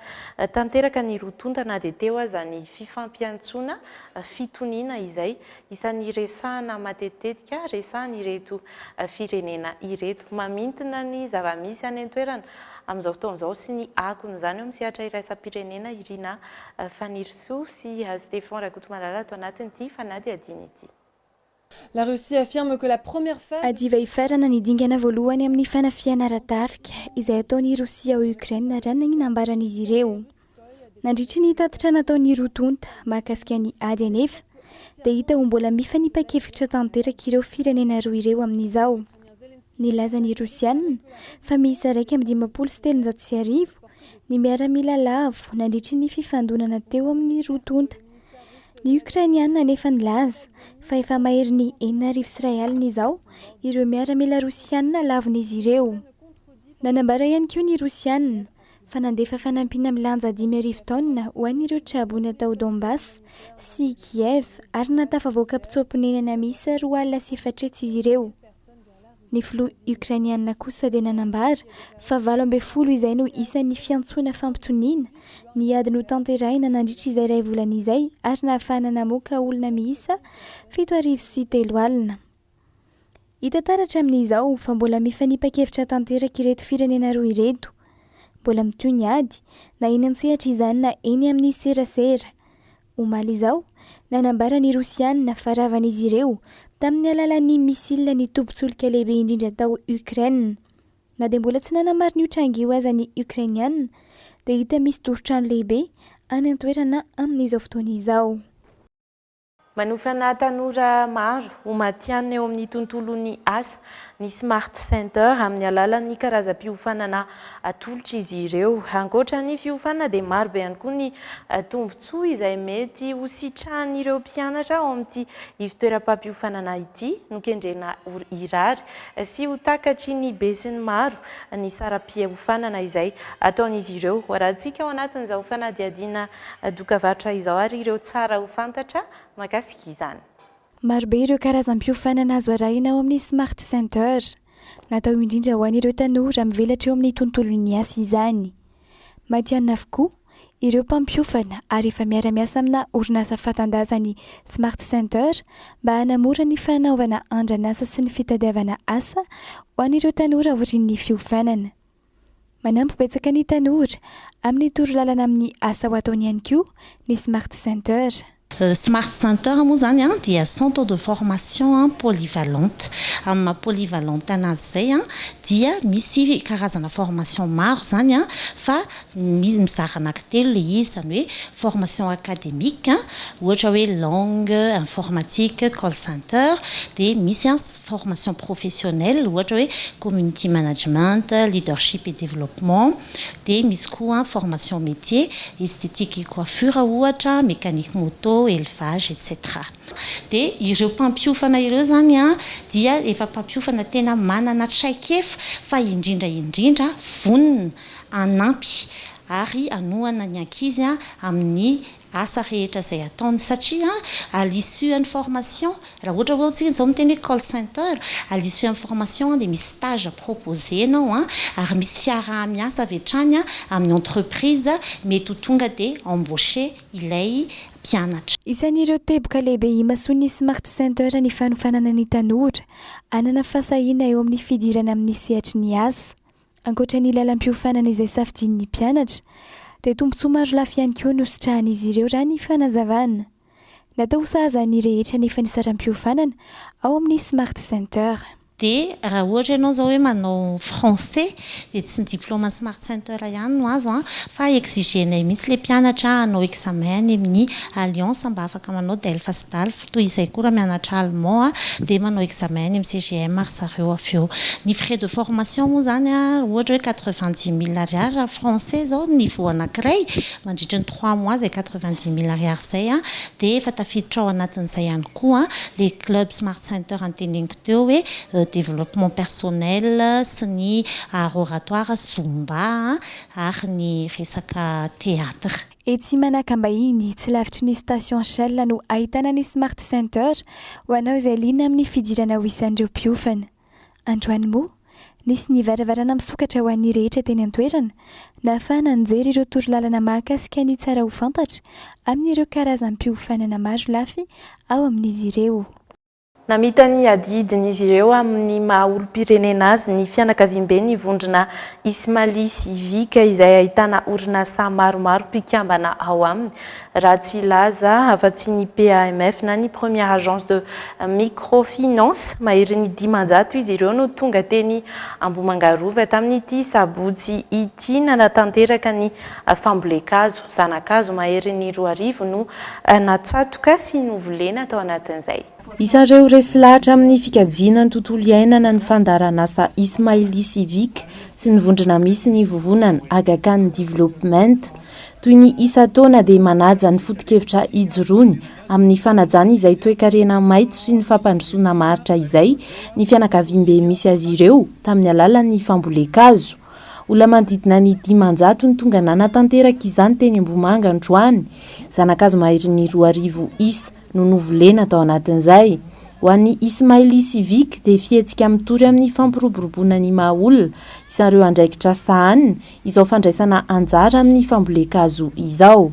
tanteraka ny roa tonta na dia teo aza ny fifampiantsoana fitoniana izay isan'ny resahana matetitetika resahan'ireto firenena ireto. Mamintina ny zava-misy any an-toerana amin'izao fotoana izao sy ny akon'izany eo amin'ny sehatra iraisam-pirenena Irina Fanirisoa. Soa sy Hazo Stefan Rakotomalala ato anatiny ity fanadihadiana ity. La Russie affirme que la première phase. Hadiva hifarana ny dingana voalohany amin'ny fanafihana ara-tafika izay ataon'i Rosia ao Ukraine raha ny nanina ambaran'izy ireo. Nandritra ny tatitra nataon'ny roa tonta mahakasika ny ady anefa dia hita ho mbola mifanipakevitra tanteraka ireo firenena roa ireo amin'izao. Nilaza ny Rosiana fa miisa iraika amby dimampolo sy telonjato sy arivo ny miaramila lavo nandritry ny fifandonana teo amin'ny roa tonta. Ny Okrainiana anefa nilaza fa efa maherin'ny enina arivo sy iray alina izao ireo miaramila Rosiana lavon'izy ireo. Nanambara ihany koa ny Rosiana fa nandefa fanampiana milanja dimy arivo taonina ho an'ireo traboina tao Donbas sy Kiev ary nahatafavoaka mpitsoa-ponenana miisa roa alina sy efatretsy izy ireo. Ny filoha Ukrainiana kosa dia nanambara fa valo ambin'ny folo izay no isan'ny fiantsoana fampitoniana ny ady notanterahina nandritra izay iray volana izay ary nahafahana namoaka olona miisa fito arivo sy telo alina. Hita taratra amin'izao fa mbola mifanipa-kevitra tanteraka ireto firenena roa ireto. Mbola mitohy ny ady, na eny an-tsehatra izany na eny amin'ny serasera. Omaly izao, nanambara ny Rosiana fa ravan'izy ireo tamin'ny alalan'ny misila ny tobin-tsolika lehibe indrindra tao Ukraine. Na dia mbola tsy nanamarina io tranga io aza ny Ukrainiana, dia hita misy doro-trano lehibe any an-toerana amin'izao fotoana izao. Manofana tanora maro ho matihanina eo amin'ny tontolon'ny asa ny Smart Center amin'ny alalan'ny karazam-piofanana atolotra izy ireo. Ankoatra ny fiofanana dia maro be ihany koa ny tombontsoa izay mety ho sitrahan'ireo mpianatra ao amin'ity ivontoeram-pampiofanana ity, nokendrena ho hirary sy ho takatry ny besinimaro ny saram-piofanana izay ataon'izy ireo. Hoarahantsika ao anatin'izao fanadihadiana doka varotra izao ary ireo tsara ho fantatra mahakasika izany. Marobe ireo karazam-piofanana azo arahina ao amin'ny Smart Center. Natao indrindra ho an'ireo tanora mivelatra eo amin'ny tontolon'ny asa izany. Matihanina avokoa ireo mpampiofana ary efa miara-miasa amina orinasa fanta-daza ny Smart Center mba hanamora ny fanaovana andran'asa sy ny fitadiavana asa ho an'ireo tanora aorian'ny fiofanana. Manampy betsaka ny tanora amin'ny toro lalana amin'ny asa ho ataony ihany koa ny Smart Center. Smart Center moa izany dia centre de formation polyvalente. Amin'ny maha polyvalente anazy izay dia misy karazana formation maro izany fa mizara anaky telo ilay izy izany hoe formation academique ohatra hoe langue informatique call center dia misy formation professionnelle ohatra hoe community management, leadership et développement, dia misy koa formation métier, esthétique et coiffure ohatra, mécanique moto, élevage etc. Dia ireo mpampiofana ireo izany dia efa mpampiofana tena manana traikefa fa indrindra indrindra vonona hanampy ary hanohana ny ankizy amin'ny asa rehetra izay ataony satria à l'issue an'ny formation raha ohatra hoe antsika izao miteny hoe call center à l'issue an'ny formation dia misy stage proposer-nao ary misy fiaraha-miasa avy hatrany amin'ny entreprise mety ho tonga dia embaucher ilay mpianatra. Isan'ireo teboka lehibe imasoan'ny Smart Center ny fanofanana ny tanora hanana fahasahiana eo amin'ny fidirana amin'ny sehatry ny asa. Ankoatra ny lalam-piofanana izay safidian'ny mpianatra, dia tombontsoa maro lafy ihany koa no sitrahan'izy ireo raha ny fanazavana. Natao ho sahaza ny rehetra anefa ny saram-piofanana ao amin'ny Smart Center. Dia raha ohatra ianao izao hoe manao français dia tsy ny diplaoma Smart Center ihany no azo an, fa exigenay mihitsy ilay mpianatra hanao examen any amin'ny Alliance mba afaka manao DELF sy DALF. Toy izay koa raha mianatra allemand dia manao examen any amin'ny CGM ry zareo avy eo. Ny frais de formation moa izany ohatra hoe quatre-vingt-dix mille ariary raha français izao ny niveau anankiray, mandritry ny trois mois izay quatre-vingt-dix mille ariary izay dia efa tafiditra ao anatin'izay ihany koa ilay club smart center anteneniko teo hoe développement personnel sy ny art oratoire, zumba ary ny resaka theatre. Etsy Manakambahiny, tsy lavitry ny station Shell no ahitana ny Smart Center ho anao izay liana amin'ny fidirana ho isan'ireo mpiofana. Androany moa, nisy ny varavarana misokatra ho an'ny rehetra teny an-toerana, nahafahana nijery ireo torolalana mahakasika ny tsara ho fantatra amin'ireo karazam-piofanana marolafy ao amin'izy ireo. Namita ny adidin'izy ireo amin'ny maha olom-pirenena azy ny fianakaviamben'ny vondrona Ismaly Civic izay ahitana orinasa maromaro mpikambana ao aminy, raha tsy hilaza afa-tsy ny PAMF na ny Première Agence de Microfinance. Maherin'ny dimanjato izy ireo no tonga teny Ambohimangarova tamin'ity sabotsy ity nanatanteraka ny. Fambolen-kazo, zana-kazo maherin'ny roa arivo no natsatoka sy novolena tao anatin'izay. Isareo resy lahatra amin'ny fikajiana ny tontolo iainana ny fandaharan'asa Ismaili Civique sy ny vondrona misy ny vovonana Aga Khan Development. Toy ny isan-taona dia manaja ny foto-kevitra ijoroany amin'ny fanajana izay toekarena maitso sy ny fampandrosoana maharitra izay ny fianakaviambe misy azy ireo tamin'ny alalan'ny fambolen-kazo. Olona manodidina ny dimanjato no tonga nanatanteraka izany teny Ambohimanga androany. Zana-kazo maherin'ny roa arivo isa no novolena tao anatin'izay. Ho an'ny Ismaili Civic dia fihetsika mitory amin'ny fampiroboroboana ny maha olona isareo andraikitra sahaniny izao fandraisana anjara amin'ny fambolen-kazo izao.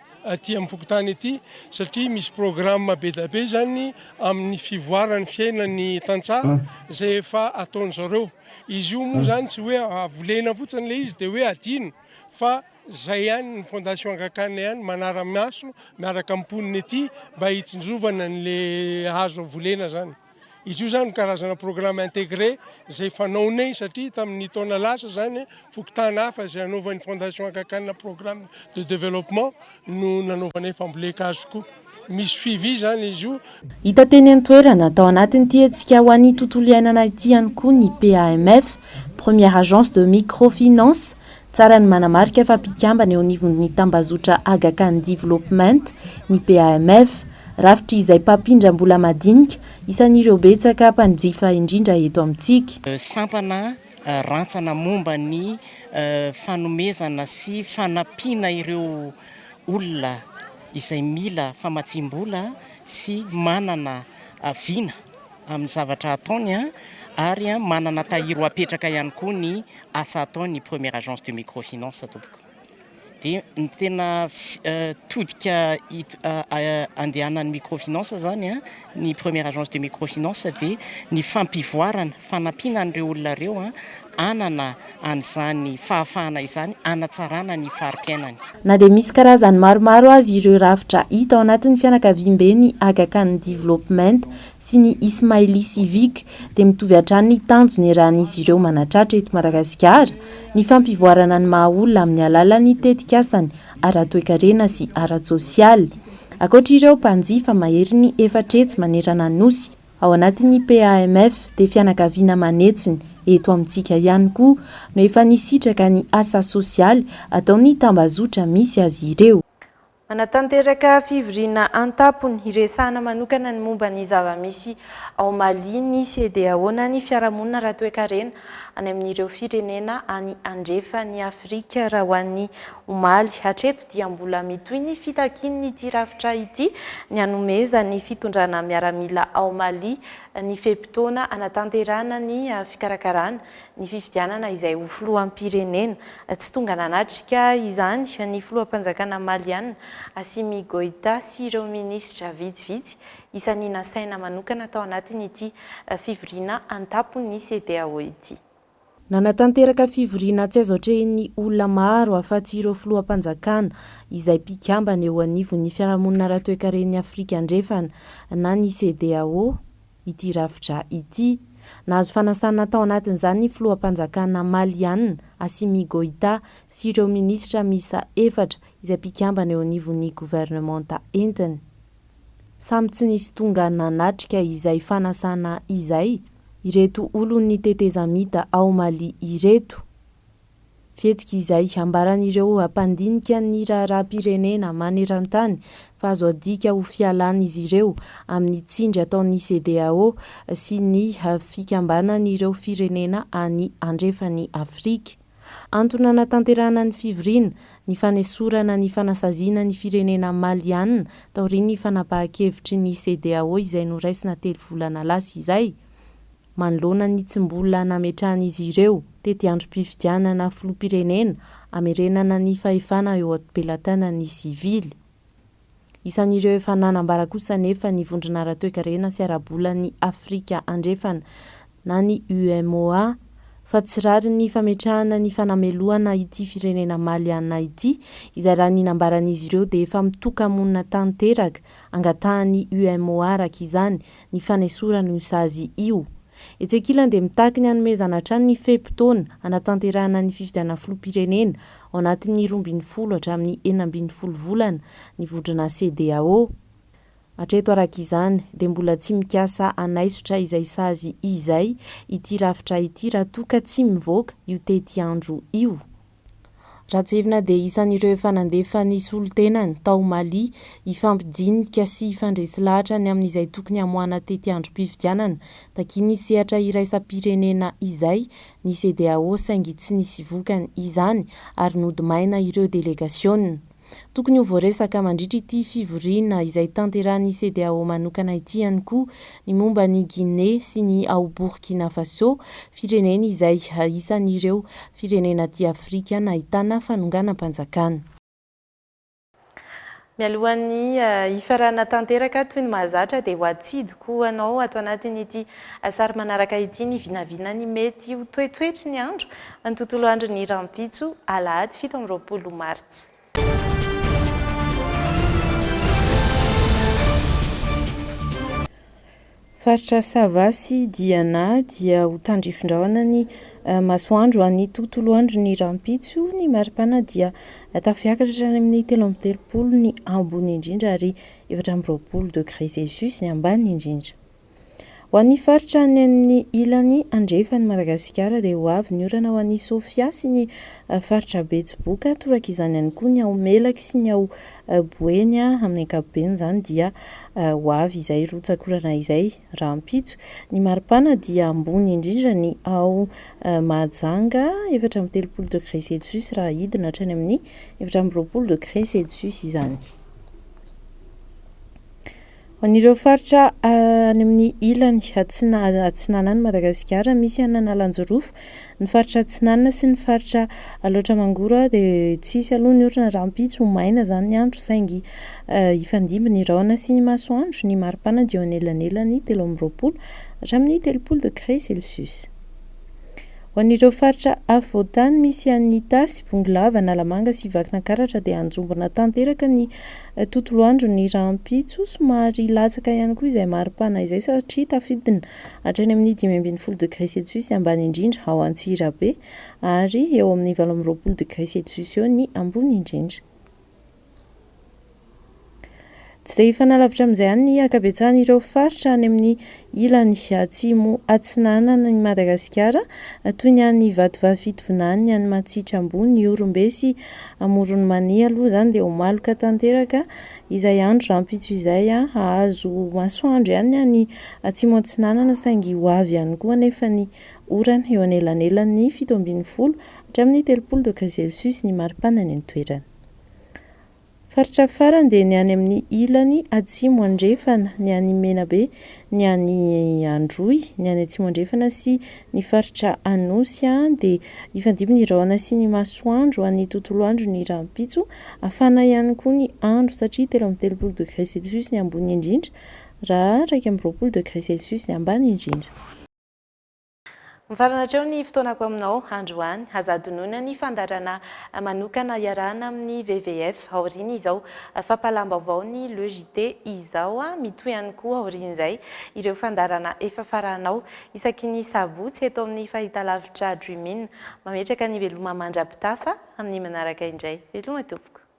aty amin'ny fokontany aty satria misy programme be dia be izany amin'ny fivoaran'ny fiainan'ny tantsaha izay efa ataony zareo. Izy io moa izany tsy hoe avolena fotsiny ilay izy dia hoe adino fa izay ihany ny fondation Angakana ihany manara-maso miaraka amin'ny mponina ety mba hitsinjovana an'ilay hazo volena izany. Izy io izany karazana programme intégré izay fanaonay satria tamin'ny taona lasa izany fokontany hafa izay hanaovan'ny Fondation Aga Khan programme de développement no nanaovanay fambolen-kazo koa. Misy suivi izany izy io. Hita teny an-toerana, tao anatin'ity hetsika ho an'ny tontolo iainana ity ihany koa ny PAMF, Première Agence de Microfinance, Tsara ny manamarika fa mpikambana eo anivon'ny tambazotra Aga Khan Development ny PAMF. Rafitry izay mpampindram-bola madinika, isan'ireo betsaka mpanjifa indrindra eto amintsika. Sampana rantsana momba ny fanomezana sy fanampiana ireo olona izay mila famatsiam-bola sy manana vina amin'ny zavatra ataony ary manana tahiry ho apetraka ihany koa ny asa ataon'ny Première Agence de Microfinance tompoko. Dia ny tena todika andehanan'ny Microfinance zany a, ny Première Agence de Microfinance dia ny fampivoarana, fanampiana an'ireo olona ireo hanana an'izany fahafahana izany hanatsarana ny fari-piainany. Na dia misy karazany maromaro aza ireo rafitra hita ao anatin'ny fianakaviam-be ny Aga Khan Development sy ny Ismaili Civic dia mitovy hatrany ny tanjony raha ny izy ireo manatratra eto Madagasikara ny fampivoarana ny maha olona amin'ny alalan'ny tetikasany ara-toekarena sy ara-tsosialy. Ankoatra ireo mpanjifa maherin'ny efatra etsy manerana ny Nosy ao anatin'ny PAMF dia fianakaviana manetsiny eto amintsika ihany koa no efa nisitraka ny asa sosialy ataon'ny tambazotra misy azy ireo. Hanatanteraka fivoriana an-tampony hiresahana manokana ny momba ny zava-misy ao Mali ny CEDEAO na ny Fiarahamonina ara-toekarena any amin'ireo firenena any andrefan'i Afrika raha ho an'ny omaly. Hatreto dia mbola mitohy ny fitakian'ity rafitra ity ny hanomezan'ny fitondrana miaramila ao Mali ny fe-potoana hanatanterahana ny fikarakarana ny fifidianana izay ho filoham-pirenena. Tsy tonga nanatrika izany ny filoham-panjakana maliàna, Assimi Goïta sy ireo minisitra vitsivitsy isan'ny nasaina manokana tao anatin'ity fivoriana an-tampon'ny Cedeao ity. Nanatanteraka fivoriana tsy azo atrehin'ny olona maro afa-tsy ireo filoham-panjakana izay mpikambana eo anivon'ny Fiarahamonina Ara-toekaren'i Afrika Andrefana na ny Cedeao, ity rafitra ity. Nahazo fanasana tao anatin'izany ny filoham-panjakana Maliana, Assimi Goïta, sy ireo minisitra miisa efatra izay mpikambana eo anivon'ny governemanta entiny. Samy tsy nisy tonga nanatrika izay fanasana izay ireto olon'ny tetezamita ao Mali ireto. Fihetsika izay ambaran'ireo mpandinika ny raharaham-pirenena maneran-tany fa azo adika ho fialan'izy ireo amin'ny tsindry ataon'ny CEDEAO sy ny Fikambanan'ireo Firenena any Andrefan'i Afrika. Antony hanatanterahana ny fivoriana, ny fanesorana ny fanasaziana ny firenena maliàna taorian'ny fanapahan-kevitry ny CEDEAO izay noraisina telo volana lasa izay, manoloana ny tsy mbola nametrahan'izy ireo tetiandrom-pifidianana filoham-pirenena hamerenana ny fahefana eo am-pelatanana ny sivily. Isan'ireo efa nanambara kosa anefa ny Vondrona ara-toekarena sy ara-bolan'i Afrika Andrefana na ny UEMOA fa tsy rariny ny fametrahana ny fanamelohana ity firenena Maliana ity izay raha ny nambaran'izy ireo dia efa mitoka-monina tanteraka Angatahan'ny UMOA araka izany ny fanesorana io sazy io. Etsy ankilany dia mitaky ny hanomezana hatrany ny fe-potoana hanatanterahana ny fifidianana filoham-pirenena ao anatin'ny roa ambin'ny folo hatramin'ny enina ambin'ny folo volana ny vondrona Cedeao. Hatreto araka izany dia mbola tsy mikasa hanaisotra izay sazy izay ity rafitra ity raha toa ka tsy mivoaka io tetiandro io. Rajoelina dia isan'ireo efa nandefa ny solontenany tao Mali hifampidinika sy hifandresy lahatra ny amin'izay tokony hamoahana tety androm-pifidianana takian'ny sehatra iraisam-pirenena izay ny CEDEAO saingy tsy nisy vokany izany ary nody maina ireo delegasiona Tokony ho voaresaka mandritra ity fivoriana izay tanterahin'ny Cedeao manokana ity ihany koa ny momba an'i Guinée sy ny ao Burkina Faso, firenena izay isan'ireo firenena aty Afrika nahitana fanonganam-panjakana. Mialohan'ny hifarana tanteraka toy ny mahazatra dia ho atsidiko ho anao ato anatin'ity sary manaraka ity ny vinavina ny mety ho toetoetry ny andro Ny tontolo andron'ny rahampitso, alahady fito amby roapolo martsa. Faritra Sava sy Diana dia ho tandrifin-drahona ny masoandro an'ny tontolo andron'ny rahampitso. Ny maripana dia tafiakatra hatrany amin'ny telo amby telopolo ny ambony indrindra ary efatra amby roapolo degre celsius ny ambany indrindra. Ho an'ny faritra any amin'ny ilany andrefan'i Madagasikara dia ho avy ny orana ho an'i Sofia sy ny faritra Betsiboka, toraka izany ihany koa ny ao Melaky sy ny ao Boeny amin'ny ankapobeny izany dia ho avy izay rotsakorana izay rahampitso. Ny maripana dia ambony indrindra ny ao Mahajanga efatra amby telopolo degré celsius raha hidina hatrany amin'ny efatra amby roapolo degré celsius izany. Ho an'ireo faritra any amin'ny ilany atsinanan'i Madagasikara misy an'Analanjirofo, ny faritra atsinanana sy ny faritra Alaotra Mangoro dia tsy hisy aloha ny orana rahampitso, ho maina izany ny andro saingy hifandimby ny rahona sy ny masoandro, ny maripana dia eo anelanelan'ny telo amby roapolo hatramin'ny telopolo degré celsius. Ho an'ireo faritra afovoantany misy an'i Itasy, Bongolava, Analamanga sy Vakinankaratra dia hanjombona tanteraka ny Tontolo andro ny rahampitso, somary hilatsaka ihany koa izay mari-pana izay satria tafidina hatrany amin'ny dimy ambin'ny folo degré celsius ambany indrindra ao Antsirabe ary eo amin'ny valo amby roapolo degré celsius eo ny ambony indrindra. Tsy dia hifanalavitra amin'izay ihany ny ankabetsahan'ireo faritra any amin'ny Ilany Atsimo Atsinanana an'i Madagasikara, toy ny any Vatovavy Fitovinany, ny any Matsiatra Ambony, Ihorombe sy Amoron'i Mania aloha izany dia ho maloka tanteraka izay andro rahampitso izay. Hahazo masoandro ihany ny any Atsimo Atsinanana saingy ho avy ihany koa anefa ny orana eo anelanelan'ny fito ambin'ny folo hatramin'ny telopolo doka celsius ny maripana any an-toerana. Faritra farany dia ny any amin'ny ilany atsimo andrefana, ny any Menabe, ny any Androy, ny any atsimo andrefana sy ny faritra Anosy an dia hifandimby ny rahona sy ny masoandro any tontolo andro ny rahampitso, hafana ihany koa ny andro satria telo amby telopolo degré celsius ny ambony indrindra raha iraika amby roapolo degré celsius ny ambany indrindra. Mifarana hatreo ny fotoanako aminao androany. Aza adinoina ny fandaharana manokana iarahana amin'ny WWF aoriana izao. Fampahalam-baovao ny Le JT izao. Mitohy ihany koa aorian'izay ireo fandaharana efa farahanao isaky ny sabotsy eto amin'ny fahitalavitra Dream In. Mametraka ny veloma mandra-pitafa amin'ny manaraka indray. Veloma tompoko.